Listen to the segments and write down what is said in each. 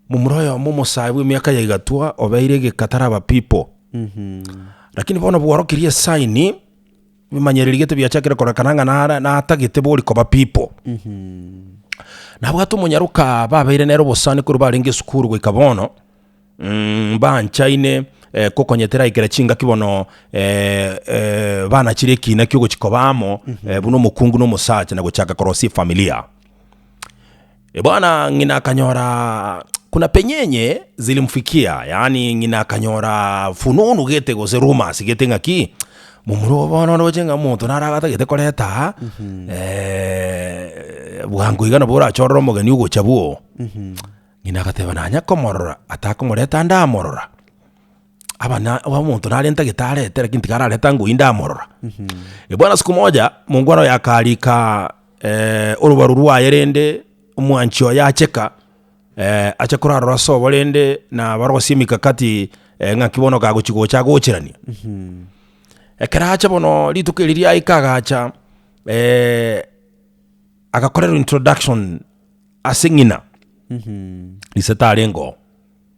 Momura oyomo omosae bw'emiaka ya igatwa obeire egeka taraba pipo. Lakini bono bworokirie esaini, ebimanyereri gete biachakire korekana ng'a nara- natagete bori koba pipo. Nabwate omonyaroka babeire nere obosani korwa barenge esukuru goika bono, mbanchaine kokonya teraikera chingaki bono banachire ekina kiogochia koba amo buna omokungu na omosacha na gochaka korosia efamilia. Ebwana ng'ina akanyora kuna penyenye zilimfikia, yaani ng'ina akanyora fununu gete gose rumors gete ng'a ki momura obo bono ndoche ng'a omonto naro agatagete koreta eh, bwango iga nabo orachorere omogeni ogocha bwoo. Ng'ina agateba nanya komorora, atakomoreta ndamorora. abana omonto nare ntagetarete lakini tikarareta ngoyi ndamorora. Ebwana siku moja mongwana oyo akarika orobaru rwaye rende omwanchi oye acheka ache korarora ase obo rende na barosie emikakati ng'aki bono okagochi gocha agocheranie. Ekero acha bono rituko eri riaika agacha agakorerwa introduction ase ng'ina risetarengoo.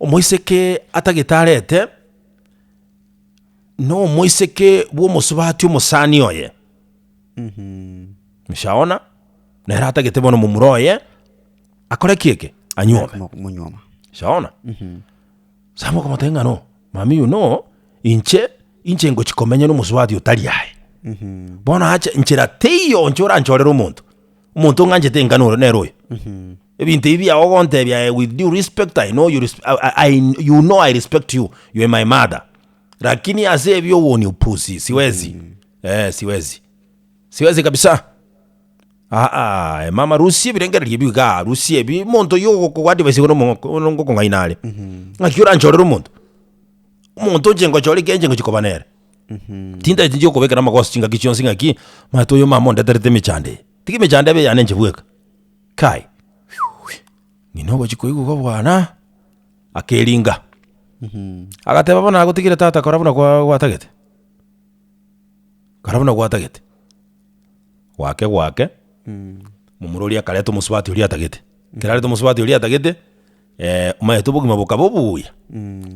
Omoiseke atagetarete, nomoiseke bw'omosubati omosani oye. Moshaona? Nere atagete bono momura oye, akore ki eke? Anyuome. Monyuoma. Shaona? Sa mokomotebia ng'a no, mamiyo no, inche, inche ngochia komenya nomosubati otari aye. Bono ache, nchera teiyo inche oranchorere omonto, omonto ng'anchete enga noro nere oyo. Ebinto ebi biao ogontebia eh, with due respect I know you, resp- I, I, I, you know I respect you, you are my mother. Lakini ase ebi owo ni upusi, siwezi. Eh, siwezi. Siwezi kabisa. Aa, eh, mama rusi ebirengererio ebi iga, rusi ebi monto yo ogokoadvise igoro mo- ono ngokong'aina are. Ng'aki oranchorere omonto? Omonto inche ngochore kenche ngochi koba nere. Tinda tinche okobekera amagoso chingaki chionsi ng'aki, mato oyo mama ondeterete emechando eye. Tiki emechando ebe eyane inche bweka. Kai, ng'ina ogochia koigwa kobwana? Akeringa. Agateba, Bono nagotigire tata kora buna kwa- gwatagete. Kora buna gwatagete. Gwake gwake, momura oria akareta omosubati oria atagete. Ekero areta omosubati oria atagete. omaete obogima bokaba obuya,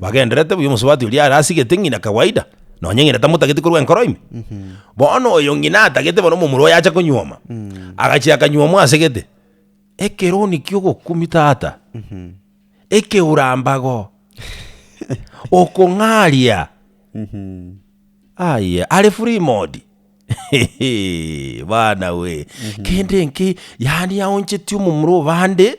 bagendererete buya, omosubati oria are asigete ng'ina kawaida, nonye ng'ina tamotageti korwa enkoro ime. Bono oyo ng'ina atagete bono omomura oye acha konyuoma, agachia akanyuomwa asegete, ekeroni kia ogokumia tata, ekeura mbago, okong'aria, aye are free mode bana we, kende nkei yaani aoncheti omomura o bande.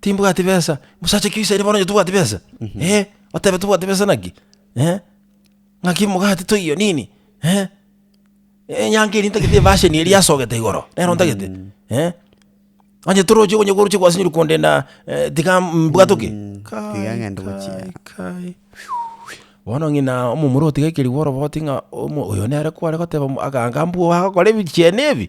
timbwati besa. Mosacha kio isaini bono onye tobwati besa? Eh, otebe tobwati besa naki? Eh, ng'aki omogati toiyo nini? Eh, enyango eria ntagete ebasheni eria yasogete igoro, nero ntagete. Eh, onye toroche onye koroche gwasinyorwa kondenda eh, tiga mbwate oke? Kai, tiga ng'ende gochia. kai, kai. Bono ng'ina omomura otiga ekerigu orobo oti ng'a omo- oyo nere kware goteba mo- aganga mbwo agakora ebichiene ebi.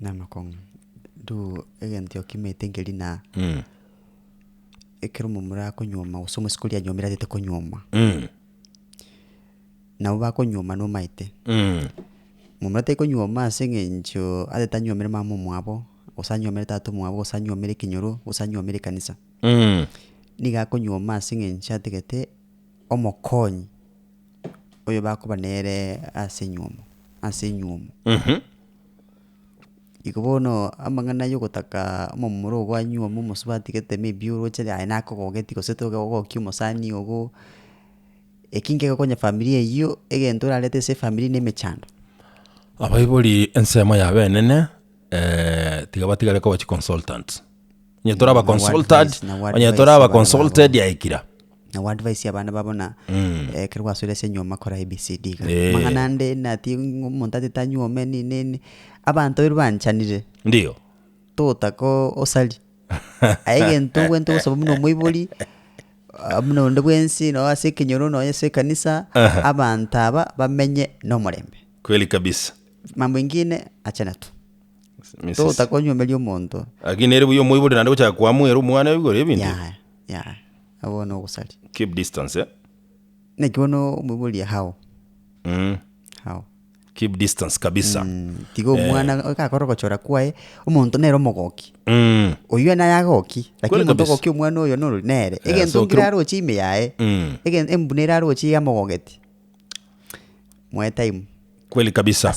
Namakong'u, ntu egento okimeete nkeri na ekero omomura akonyuoma gose omosiko oria anyuomire atete konyuoma, nabo bakonyuoma nomaete. Omomura tari konyuoma ase eng'encho atete anyuomire mama omwabo, gose anyuomire tata omwabo, gose anyuomire ekenyoro, gose anyuomire ekanisa. Nigo akonyuoma ase eng'encho atagete omokonyi oyo bakoba nere ase enyuomo, ase enyuomo. Iko bono amang'ana yogotaka omomura oo gwanyiwa buna omosabatigete maybe oroche aye nakogogeti gose toke gogokia omosani ogo, eki nkegokonya efamiri eywo egento orarete ase efamiri ne emechando. Abaibori ensemo yabo enene tiga batigare koba chiconsultants. Onye tore aba consulted, onye tore aba consulted yaikira. na oadvise abana babo buna Mm. eh, ekero gwasoire ase enyuoma kora ABCD iga. Eh. Amang'ana ande nati ng'o- omonto atete anyuome nini nini abanto baria banchanire Ndio. togotaka o- osari aye egento ogwete ogosaba buna omoibori ah, buna onde bwensi noo ase ekenyoro nonye ase ekanisa Aha. abanto aba bamenye nomorembe Kweli kabisa. mambo ingine achana tu totakonyuomeria omonto. Lakini nere buya omoibori naende gochaka koamoera omwana igoro ebinto ebio. Yaya, yaya, nabo bono ogosari. Keep distance, eh? Naki bono omoibori hao, Mm. hao. Keep distance kabisa. Mm, tiga omwana iga akore ogochora kwaye, omonto nere omogoki. Mm. Oyio naye agoki, Kweli lakini omonto kabisa. ogokia omwana oyo norori nere. Eh, Egento so nkire kero- aroche ime yaye, Mm. egen- embuna ere aroche iga amogogeti. Moe time. Kweli kabisa. Ase-